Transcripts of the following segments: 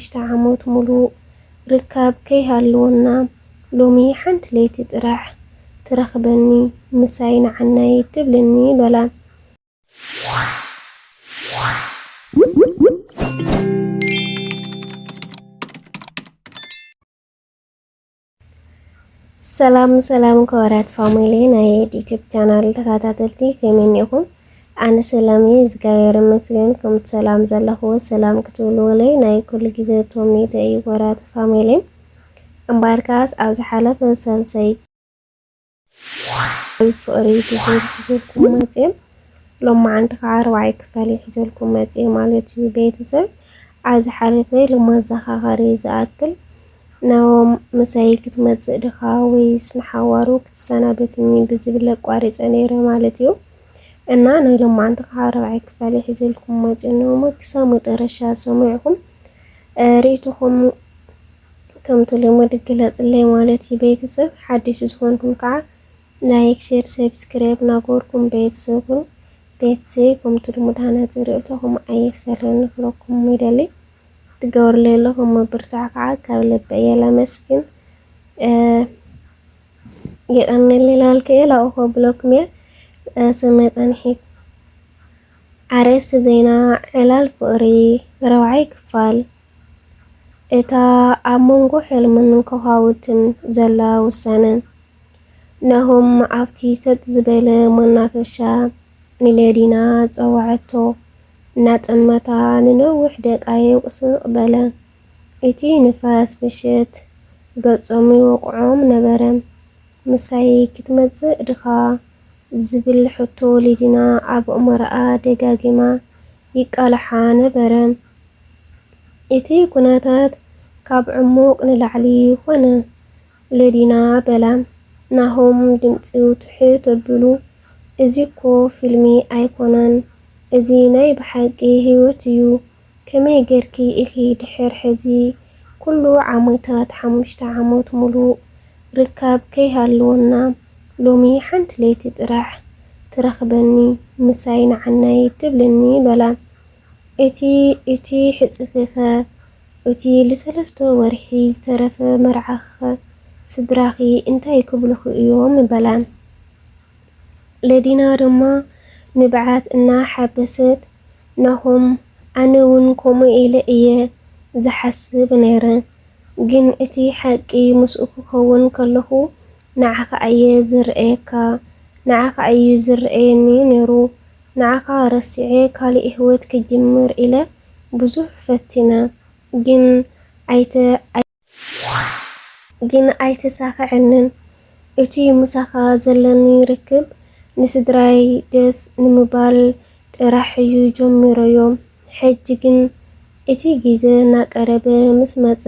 ሽዱሽተ ዓሞት ሙሉእ ርካብ ከይሃልወና ሎሚ ሓንቲ ለይቲ ጥራሕ ትረኽበኒ ምሳይ ንዓናይ ትብልኒ በላ። ሰላም ሰላም ክቡራት ፋሚሊ ናይ ዩቲዩብ ቻናል ተኸታተልቲ ከመይ እኒኹም? ኣነ ሰላም እየ እግዚኣብሔር ይመስገን። ከምቲ ሰላም ዘለኹዎ ሰላም ክትብልዎለይ ናይ ኩሉ ግዜ ተምኔተ እዩ ክቡራት ፋሚሊ። እምበኣርካስ ኣብ ዝሓለፈ ሳልሳይ ፍቅሪ ብዝብል ሒዘልኩም መፅየ ሎማዓንቲ ከዓ ኣርባዕይ ክፋል እየ ሒዘልኩም መፅየ ማለት እዩ ቤተሰብ ኣብ ዝሓለፈ ለማዘኻኸሪ ዝኣክል ናኦም ምሳይ ክትመፅእ ድኻ ወይስ ንሓዋሩ ክትሰናበትኒ ብዝብል ኣቋሪፀ ነይረ ማለት እዩ እና ናይ ሎማዓንቲ ከዓ ኣርባዕይ ክፋል እየ ሒዘልኩም መፅየ ነሞ ክሳብ መጠረሻ ሰሚዕኹም ርእይቶኹም ከምቲ ልሙድ ግለጽለይ ማለት እዩ ቤተሰብ ሓዲሽ ዝኾንኩም ከዓ ላይክ ሼር ሰብስክራይብ ናጎርኩም ቤተሰብ ኩኑ ቤተሰብ ከምቲ ልሙድ ሃናጺ ርእቶኹም ኣይፈልን ንክለኩም ይደሊ ትገብርለይ ኣለኹም ምብርታዕ ከዓ ካብ ልቢ እየ ለመስግን የቀንልይ ላልከ እየ ላኡኾ ብለኩም እየ ሰናይ ጸንሒት ኣርእስቲ ዜና ዕላል ፍቕሪ ረብዓይ ክፋል እታ ኣብ መንጎ ሕልምን ከዃውትን ዘላ ውሳነ፣ ናሆም ኣብቲ ሰጥ ዝበለ መናፈሻ ንሌዲና ጸውዐቶ። እናጠመታ ንነዊሕ ደቃይቕ ስቕ በለ። እቲ ንፋስ ምሸት ገጾም ይወቕዖም ነበረ። ምሳይ ክትመጽእ ድኻ? ዝብል ሕቶ ሌዲና ኣብ ኣእምሮኣ ደጋጊማ ይቃላሓ ነበረ። እቲ ኩነታት ካብ ዕሙቅ ንላዕሊ ኮነ። ለዲና በላ ናሆም ድምጺኡ ትሕት ኣብሉ እዚ እኮ ፊልሚ ኣይኮነን እዚ ናይ ብሓቂ ሂወት እዩ ከመይ ገርኪ ኢኪ ድሕር ሕዚ ኩሉ ዓመታት ሓሙሽተ ዓመት ሙሉእ ርካብ ከይ ሃለወና ሎሚ ሓንቲ ለይቲ ጥራሕ ትረክበኒ ምሳይ ንዓናይ ትብልኒ በላ እቲ እቲ ሕጽኺኸ? እቲ ልሰለስተ ወርሒ ዝተረፈ መርዓኺኸ? ስድራኺ እንታይ ክብሉኺ እዮም? በላን። ለዲና ድማ ንብዓት እና ሓበሰት፣ ናሆም ኣነ ውን ከምኡ ኢለ እየ ዝሓስብ ነይረ፣ ግን እቲ ሓቂ ምስኡ ክከውን ከለኹ ንዓኻ እየ ዝርእየካ፣ ንዓኻ እዩ ዝርእየኒ ነይሩ፣ ንዓኻ ረሲዐ ካሊእ ሂወት ክጅምር ኢለ ብዙሕ ፈቲነ ግን ኣይተሳከዐንን እቱይ ምሳኻ ዘለኒ ርክብ ንስድራይ ደስ ንምባል ጥራሕ እዩ ጀሚረዮ። ሕጂ ግን እቲ ግዜ እናቀረበ ምስ መጸ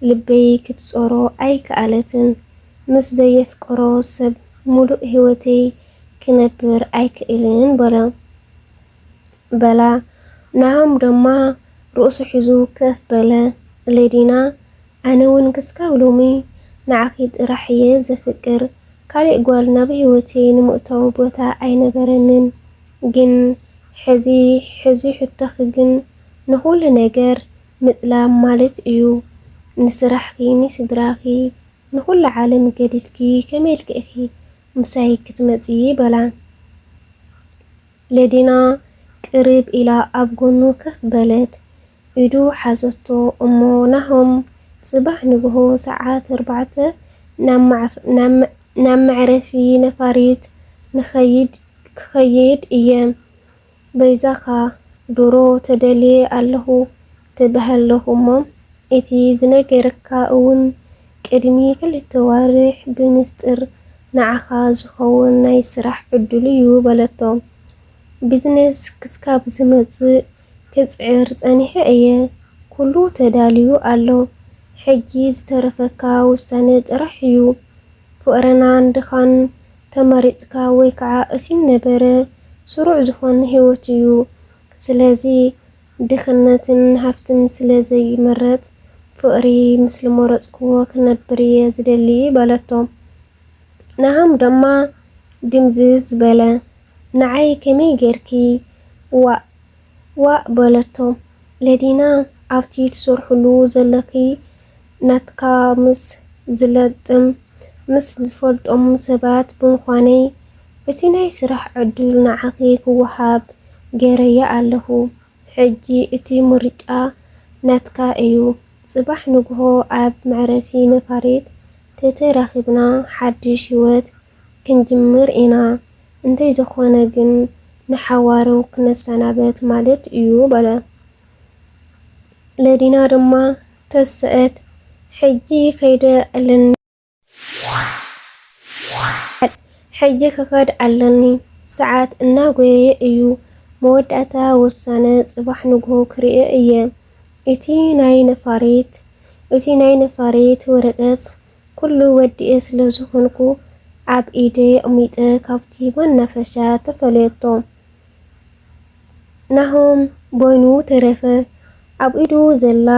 ልበይ ክትጾሮ ኣይከኣለትን። ምስ ዘየፍቅሮ ሰብ ምሉእ ህይወተይ ክነብር ኣይክእልን በሎ። በላ። ናሆም ድማ ርእሱ ሒዙ ከፍ በለ። ሌዲና ኣነ ውን ክስካብ ሎሚ ንዓኺ ጥራሕ እየ ዘፍቅር ካሊእ ጓል ናብ ሂወተይ ንምእታው ቦታ ኣይነበረንን ግን ሕዚ ሕዚ ሕቶኺ ግን ንኹሉ ነገር ምጥላም ማለት እዩ ንስራሕኺ ንስድራኺ ንኹሉ ዓለም ገዲፍኪ ከመይ ኢልኪ ኢኺ ምሳይ ክትመፂ በላ ለዲና ቅርብ ኢላ ኣብ ጎኑ ከፍ በለት ኢዱ ሓዘቶ እሞ ናሆም ጽባሕ ንግሆ ሰዓት ኣርባዕተ ናብ መዕረፊ ነፋሪት ክኸይድ እየ በይዛኻ ድሮ ተደልየ ኣለኹ ትበሃለኹ እሞ እቲ ዝነገረካ እውን ቅድሚ ክልተ ኣዋርሕ ብምስጢር ንዓኻ ዝኸውን ናይ ስራሕ ዕድል'ዩ በለቶ። ቢዝነስ ክስካብ ዝመጽእ ክጽዕር ጸኒሐ እየ ኩሉ ተዳልዩ ኣሎ ሕጂ ዝተረፈካ ውሳነ ጥራሕ እዩ ፍቅረናን ድኻን ተመሪጽካ ወይ ከዓ እሲን ነበረ ስሩዕ ዝኾን ሂወት እዩ ስለዚ ድኽነትን ሃፍትን ስለ ዘይምረጽ ፍቅሪ ምስ ልመረጽክዎ ክነብር እየ ዝደሊ በለቶ። ንሃም ደማ ድምዝዝ በለ ንዓይ ከመይ ጌርኪ ዋእ ዋእ በለቶ ለዲና ኣብቲ ትሰርሕሉ ዘለኪ ናትካ ምስ ዝለጥም ምስ ዝፈልጦም ሰባት ብምኳነይ እቲ ናይ ስራሕ ዕዱል ንዓኪ ክዋሃብ ጌረያ ኣለኩ ሕጂ እቲ ምርጫ ናትካ እዩ ጽባሕ ንግሆ ኣብ መዕረፊ ነፋሪት ተተራኺብና ሓድሽ ህይወት ክንጅምር ኢና፣ እንተይዘኾነ ግን ንሓዋሩ ክነሰናበት ማለት እዩ በለ። ለዲና ድማ ተሰእት፣ ሕጂ ከይደ ኣለኒ፣ ሕጂ ክኸድ ኣለኒ፣ ሰዓት እናጎየየ እዩ፣ መወዳእታ ውሳነ ጽባሕ ንግሆ ክርእዮ እየ፣ እቲ ናይ ነፋሪት እቲ ናይ ነፋሪት ወረቀት ኩሉ ወዲኤ ስለ ዝኮንኩ ኣብ ኢደይ ኣቅሚጠ ካብቲ መናፈሻ ተፈለየቶ ናሆም በይኑ ተረፈ ኣብ ኢዱ ዘላ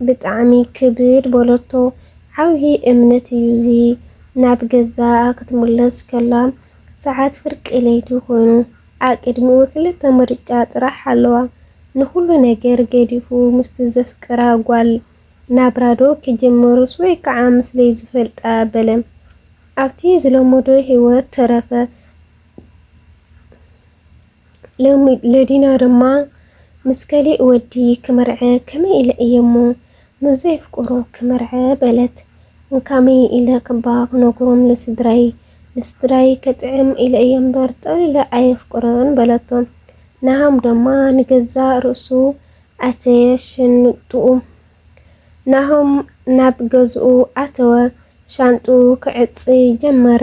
ብጣዕሚ ክብድ በለቶ ዓብዪ እምነት እዩ እዚ ናብ ገዛ ክትምለስ ከላ ሰዓት ፍርቂ ለይቲ ኮይኑ ኣብ ቅድሚኡ ክልተ ምርጫ ጥራሕ ኣለዋ ንኹሉ ነገር ገዲፉ ምስቲ ዘፍቅራ ጓል ናብራዶ ክጅምርስ ወይ ከዓ ምስለይ ዝፈልጣ በለ ኣብቲ ዝለመዶ ህይወት ተረፈ። ለዲና ድማ ምስ ከሊእ ወዲ ክምርዐ ከመይ ኢለ እየ እሞ ምስ ዘይፍቅሮ ክምርዐ በለት። እንካመይ ኢለ ክባ ክነግሮም ንስድራይ ንስድራይ ከጥዕም ኢለ እየ እምበር ጠቕሊለ ኣየፍቅሮን በለቶ። ናሃም ድማ ንገዛእ ርእሱ ኣተየ ሽንጥኡ። ናሆም ናብ ገዝኡ ኣተወ። ሻንጥኡ ክዕጽ ጀመረ።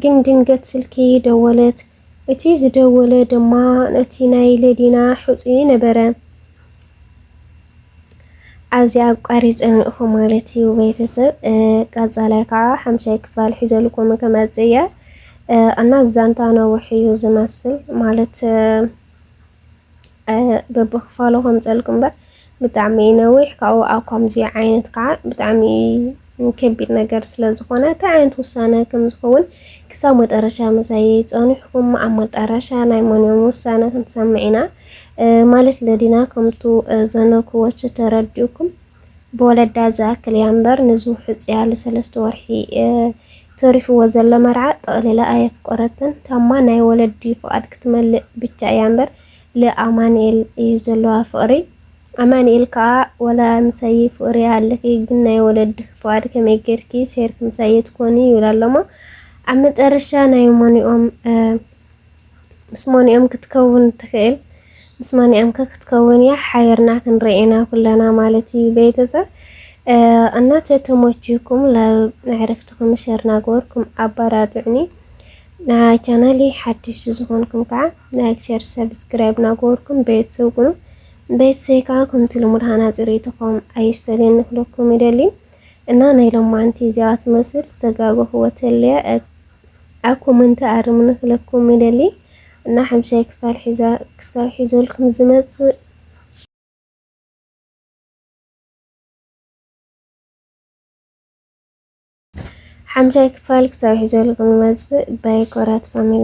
ግን ድንገት ስልኪ ደወለት። እቲ ዝደወለ ድማ እቲ ናይ ለዲና ሑጺ ነበረ። ኣብዚ ኣቋሪጸ እኒእኹ ማለት እዩ ቤተሰብ። ቀጻላይ ከዓ ሓምሻይ ክፋል ሒዘልኩም ክመጽእ እየ እና ዛንታ ነዊሕ እዩ ዝመስል ማለት በብክፋሉ ከምፀልኩ እምበር ብጣዕሚ እዩ ነዊሕ ካብኡ ኣብ ከምዚ ዓይነት ከዓ ብጣዕሚ ከቢድ ነገር ስለዝኾነ እንታይ ዓይነት ውሳነ ከምዝኸውን ክሳብ መጠረሻ መሳይ ፀኒሕኩም ኣብ መጠረሻ ናይ መንም ውሳነ ክንሰምዕ ኢና ማለት ለዲና ከምቱ ዘነኩወች ተረዲኡኩም ብወለዳ ዝኣክል እያ እምበር ንዙ ሕፅያ ለሰለስተ ወርሒ ተሪፍዎ ዘሎ መርዓ ጠቕሊላ ኣየፍቆረትን ታማ ናይ ወለዲ ፍቓድ ክትመልእ ብቻ እያ እምበር ል ኣማኒኤል እዩ ዘለዋ ፍቕሪ ኣማኒኤል ካኣ ወላ ምሳይ ፍቕሪ ይሃልኺ ግን ናይ ወለድኺ ፍቓድ ከመይ ገርኪ ሰይርኪ ምሳይ ትኮኒ ይብላ ኣሎሞ ኣብ መጨረሻ ናይ ሞኒኦም ምስ ማን'ያም ክትከውን ትኽእል? ምስ ማን'ያምከ ክትከውን እያ? ሓቢርና ክንርኢ ኢና ኩለና ማለት እዩ ቤተሰብ እና ተተሞችኩም ንኣዕርክትኩም ሸር ናገበርኩም ኣበራትዑኒ። ናይ ቻናሊ ሓድሽ ዝኾንኩም ከዓ ላይክ፣ ሸር፣ ሰብስክራይብ ናገበርኩም ቤተሰብ ኩኑ። ቤተሰብ ከዓ ከምቲ ልሙድ ሃናፂ ርኢቶኹም ኣይፈልን ክለኩም ይደሊ እና ናይ ሎማንቲ እዚኣ ትመስል ዝተጋገኹዎ ተለየ ኣብ ኮመንቲ ኣርሙኒ ክለኩም ይደሊ እና ሓምሻይ ክፋል ሒዛ ክሳብ ሒዘልኩም ዝመጽእ ሓምሻይ ክፋል ክሳብ ሒዘልኩም ዝመጽእ ባይ ኮራት ፋሚሊ